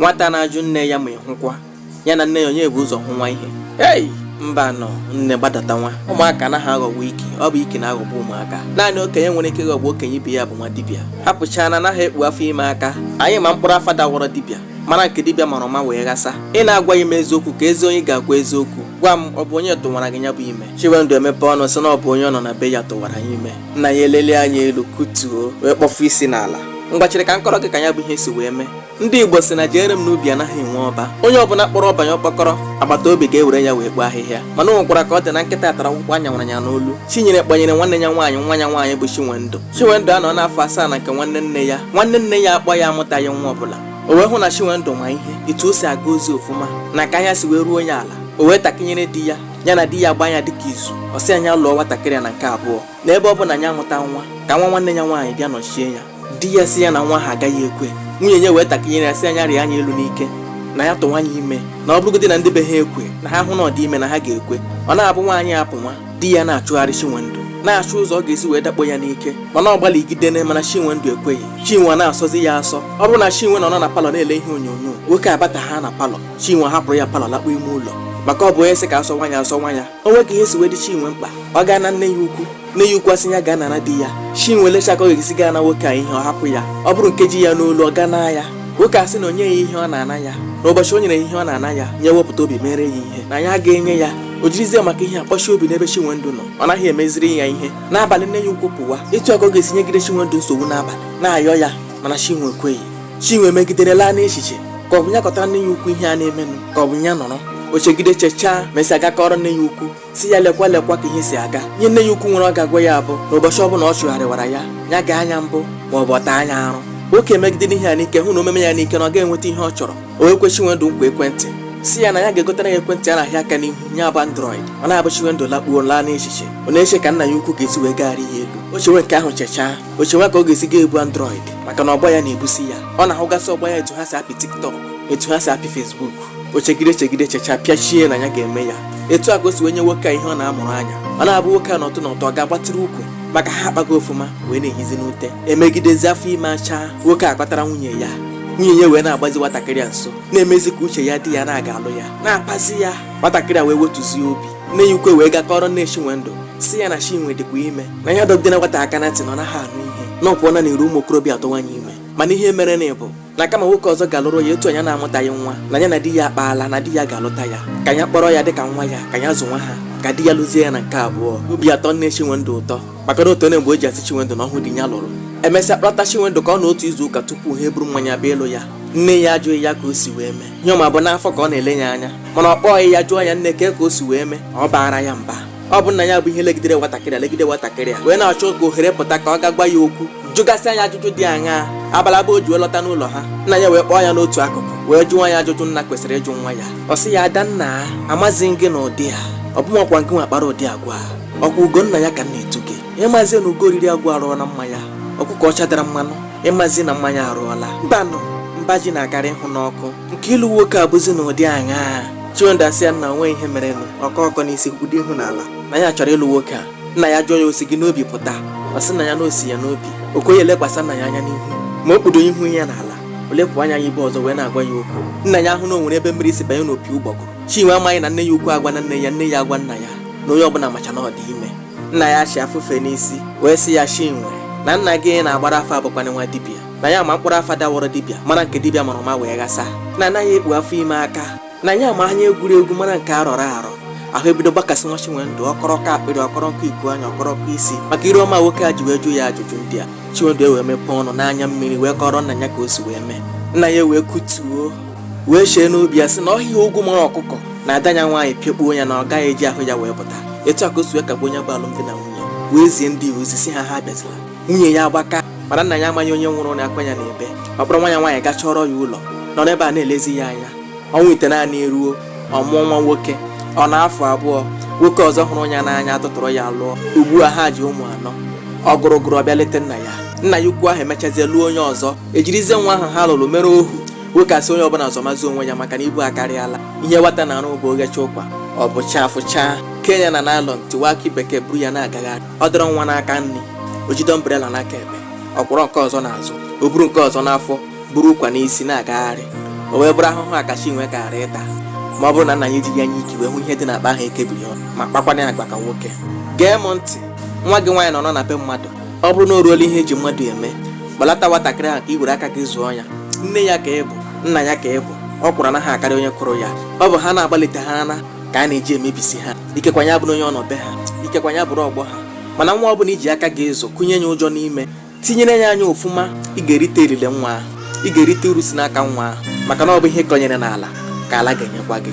nwata na-ajụ nne ya ma ị hụkwa ya na nne ya onye bu ụzọ hụwa ihe ei mba nọ nne gbadata nwa ụmụaka anaghị aghọgbu ike ọ bụ ike na-aghọgbu ụmụaka naanị okenye nwere ike ịghọgbu okenye ibe ya bụ nwa dibịa hapụchaa na anaghị ekpu afọ ime aka anyị ma mkpụrụ afa dawọrọ dibịa mara nke dibịa mara ọma wee ghasa ị na-agwaghị m eziokwu keezi onye ị ga-agwa eziokwu gwa m ọ bụ onye tụwara gị ya bụ ime chinwendụ emepe ọnụ sị na ọ bụ onye ọ nọ na be ya tụwara ya ime nna ya elele anya elu kutuo wee kpọfu isi n'ala ngwa chere ka m kọọrọ gị ka ya bụ ihe si wee mee ndị igbo sị na jeere m n'ubi anaghị enwe ọba onye ọbụla kpọrọ ọba ya ọkpọkọrọ agbata obi ga-ewere ya wee kpoo ahịhịa mana o nwekwara ka ọ dị na nkịta tara ọkpụkpụ a nyawara ya n'olu chinyere kpanyere nwanne ya nwaanyị nwa ya nwaanyị bụ chinwendụ chinwendụ anọọna afọ asaa na nke nwanne nne ya nwanne nne ya a kpọ ya amụtaghị nwa ọbụla o wee hụ na chinwendụ ma ihe etu o si aga ozi ofụma na ka anya si wee ruo ya ala o wee takịnyere di ya ya na di ya gbaa ya dịka izu ọ sị ya ya lụọ nwatakịrị a na nke abụọ n'ebe ọ bụ na ya amụta nwa ka nwa nwanne ya nwaanyị bịa nọchie ya di ya sị ya na nwa ha agaghị ekwe nwunye ya wee takịnyere ya sị ya ya rịa ya elu n'ike na ya tụwa ya ime na ọ bụrụgodi na ndị be ha ekwe na ha hụ na ọ dị ime na ha ga-ekwe ọ na-abụ nwaanyị apụwa di ya na-achụgharị Chinwendụ na-achụ ụzọ ọ ga-esi wee dakpo ya n'ike mana ọ gbalịgidene mana Chinwendụ ekweghị Chinwe na-asọzi ya asọ ọ bụrụ na Chinwe nọ na palọ na-ele ihe onyonyo nwoke abata ha na palọ Chinwe ahapụrụ ya palọ lakpuo ime ụlọ maka ọ bụ onye sị ka a sọwa ya a sọwa ya o nwee ka ihe si wee dị chinwe mkpa ọ gaa naa nne ya ukwu nne ya ukwu asị ya gaa nara di ya chinwe lechaa ka ọ ga-esi gaa naa nwoke a ihe ọ hapụ ya ọ bụrụ nke ji ya n'olu ọ gaa naa ya nwoke asị na o nyeghị ihe ọ na-ana ya na ụbọchị o nyere ihe ọ na-ana ya ya ewepụta obi meere ya ihe na ya ga-enye ya o jirizie maka ihe a kpọchie obi n'ebe chinwendụ nọ ọ naghị emeziri ya ihe n'abalị nne ya ukwu pụwa etu a ka ọ ga-esi nyegide chinwendụ nsogbu n'abalị na-ayọ ya mana chinwe ekweghị chinwe megidere laa n'echiche ka ọ bụ ya kọtara nne ya ukwu ihe a na-emenụ ka ọ bụ ya nọrọ o chegide chechaa mesịa gaa kọọrọ nne ya ukwu sị ya lekwa lekwa ka ihe si aga ihe nne ya ukwu nwere ọ ga-agwa ya bụ na ụbọchị ọbụla ọ chụgharịwara ya ya gbaa ya mbọ ma ọ bụ ọ taa ya arụ nwoke megidere ihe a n'ike hụ na o meme ya n'ike na ọ ga-enweta ihe ọ chọrọ o wee kwe chinwendụ nkwa ekwentị sị ya na ya ga-egotara ya ekwentị a na-ahịa aka n'ihu ya bụ android ọ na-abụ chinwendụ lakpuo laa n'echiche ọ na-eche ka nna ya ukwu ga-esi wee gagharị ya elu o chewe nke ahụ chechaa o chewa ka ọ ga-esi ga-ebu android maka na ọgba ya na-ebusi ya ọ na-ahụgasị ọgba ya etu ha si apị tiktok etu ha si apị fesbuk o chegide chegide chechaa pịachie na ya ga-eme ya etu a ka o si wee nye nwoke a ihe ọ na-amụrụ anya ọ na-abụ nwoke a nọtụ nọtụ ọ ga-agbatịrị ukwu maka ha akpago ofụma wee na-ehizi n'ute e megidezie afọ ime achaa nwoke a kpatara nwunye ya nwunye ya wee na-agbazi nwatakịrị a nso na-emezi ka uche ya dị ya na a ga-alụ ya na-akpazi ya nwatakịrị a wee wetuzie obi nne ya ukwu wee gaa kọọrọ nne Chinwendụ sị ya na Chinwe dịkwa ime na ya dọgidela nwata aka na ntị na ọ naghị anụ ihe na ọ pụọla n'iru ụmụ okorobịa atụwa ya ime mana ihe merenụ bụ na kama nwoke ọzọ ga-alụrụ ya etu ya na-amụtaghị nwa na ya na di ya akpaala na di ya ga-alụta ya ka ya kpọrọ ya dịka nwa ya ka ya zụwa ha ka di ya lụzie ya na nke abụọ obi atọ nne Chinwendụ ụtọ maka na otu onye mgbe o ji asị Chinwendụ na ọhụụ di ya lụrụ emesịa kpọta Chinwendụ ka ọ nọọ otu izu ụka tupu ha eburu mmanya bịa ịlụ ya nne ya ajụghị ya ka o si wee mee ihe ọ ma bụ n'afọ ka ọ na-ele ya anya mana ọ kpọghị ya jụọ ya nne kee ka o si wee mee ọ baara ya mba ọ bụ nna ya bụ ihe legidere nwatakịrị a legide nwatakịrị a wee na-achọ ka ohere pụta ka ọ gaa gwa ya okwu jụgasịa ya ajụjụ dị aṅaa abalị abụọ o ji wee lọta n'ụlọ ha nna ya wee kpọọ ya n'otu akụkụ wee jụọ ya ajụjụ nna kwesịrị ịjụ nwa ya ọ sị ya ada nna amazi m gị na ụdị a ọ bụ makwa gị nwa kpara ụdị agwa a ọkwa ugo nna ya ka m na-etu gị ị mazi na ugo riri agwọ arụọla mma ya ọkụkọ ọcha dara mmanụ ị mazi na mma ya arụọla mbanụ mba ji na-akarị ịhụ n'ọkụ nke ịlụ nwoke abụzi n'ụdị aṅaa chinwendụ asị ya nna o nwe ihe merenụ ọ kọọ ọkọ n'isi kpudo ihu n'ala na ya chọrọ ịlụ nwoke a nna ya jụọ ya o si gị n'obi pụta ọ sị nna ya na o si ya n'obi o kweghị elekwasị nna ya anya n'ihu ma o kpudo ihu ya n'ala o lepụ anya ya ebe ọzọ wee na-agwa ya okwu nna ya ahụ na o nwere ebe mmiri si banye n'opi ụgbọgụrụ chinwe amaghị na nne ya ukwu agwala nne ya nne ya agwa nna ya na onye ọbụla macha na ọ dị ime nna ya achịa fufee n'isi wee sị ya chinwe na nna gị na-agbara afọ abụkwana nwa dibịa na ya ma mkpụrụ afa dawọrọ dibịa mara nke dibịa mara ma wee ghasa na anaghị ekpu afọ ime aka na ya ma anya egwuregwu mara nke a rọrọ arọ ahụ ebido gbakasịwa chinwendụ ọ kọrọ ọkọ akpịrị ọ kọrọ ọkọ iku anya ọ kọrọ ọkọ isi maka ire ọma nwoke a ji wee jụ ya ajụjụ ndị a chinwendụ ewee mepee ọnụ n'anya mmiri wee kọrọ nna ya ka o si wee mee nna ya wee kutuo wee chee n'obi ya sị na ọhịa ogwu mara ọkụkọ na ada ya nwaanyị pịakpuo ya na ọ gaghị eji ahụ ya wee pụta etu a ka o si wee kagbuo ya bụ alụmdi na nwunye wee zie ndị ozi sị ha ha abịazila nwunye ya agbaka mana nna ya amaghị onye nwụrụ na akwa ya n'ebe ọ kpọrọ nwa ya nwaanyị gaa chọọrọ ya ụlọ nọ n'ebe a na-elezi ya anya ọnwa itenaanị eruo ọ mụọ nwa nwoke ọ nọọ afọ abụọ nwoke ọzọ hụrụ ya n'anya atụtụrụ ya lụọ ugbu a ha ji ụmụ anọ ọ gụrụ gụrụ ọ bịa leta nna ya nna ya ukwu ahụ emechazie lụọ onye ọzọ ejirizie nwa ahụ ha lụrụ mere ohu nwoke asị onye ọbụla zọmazi onwe ya maka na ibu akarịala ihe nwata na-arụ bụ o ghechaa ụkwa ọ bọchaa fụchaa kenye ya na naịlọn tiwa akị bekee buru ya na-agagharị ọ dọrọ nwa n'aka nri o jide ọmbrela n'aka ekpe ọ kwọrọ nke ọzọ n'azụ o buru nke ọzọ n'afọ buru ụkwa n'isi na-agagharị o wee bụrụ ahụhụ a ka chinwe gaara ịta ma ọ bụrụ na nna ya ejighị anya ike wee hụ ihe dị n'akpa ahụ ekebiri ọnụ ma kpakwana ya agwa ka nwoke gee m ntị nwa gị nwaanyị nọ na be mmadụ ọ bụrụ na o ruola ihe eji mmadụ eme kpọlata nwatakịrị ahụ ka i were aka gị zụọ ya nne ya ka ị bụ nna ya ka ị bụ ọkwụrụ anaghị akarị onye kụrụ ya ọ bụ ha na-agbalite ha na ka a na-eji emebisi ha ikekwa ya bụrụ onye ọ nọ be ha ikekwa ya bụrụ ọgbọ ha mana nwa ọ bụla i ji aka gị azụ kụnye ya ụjọ n'ime tinyere ya anya ọfụma ị ga-erite elele nwa ahụ ị ga-erite uru si n'aka nwa ahụ maka na ọ bụ ihe ị kọnyere n'ala ka ala ga-enyekwa gị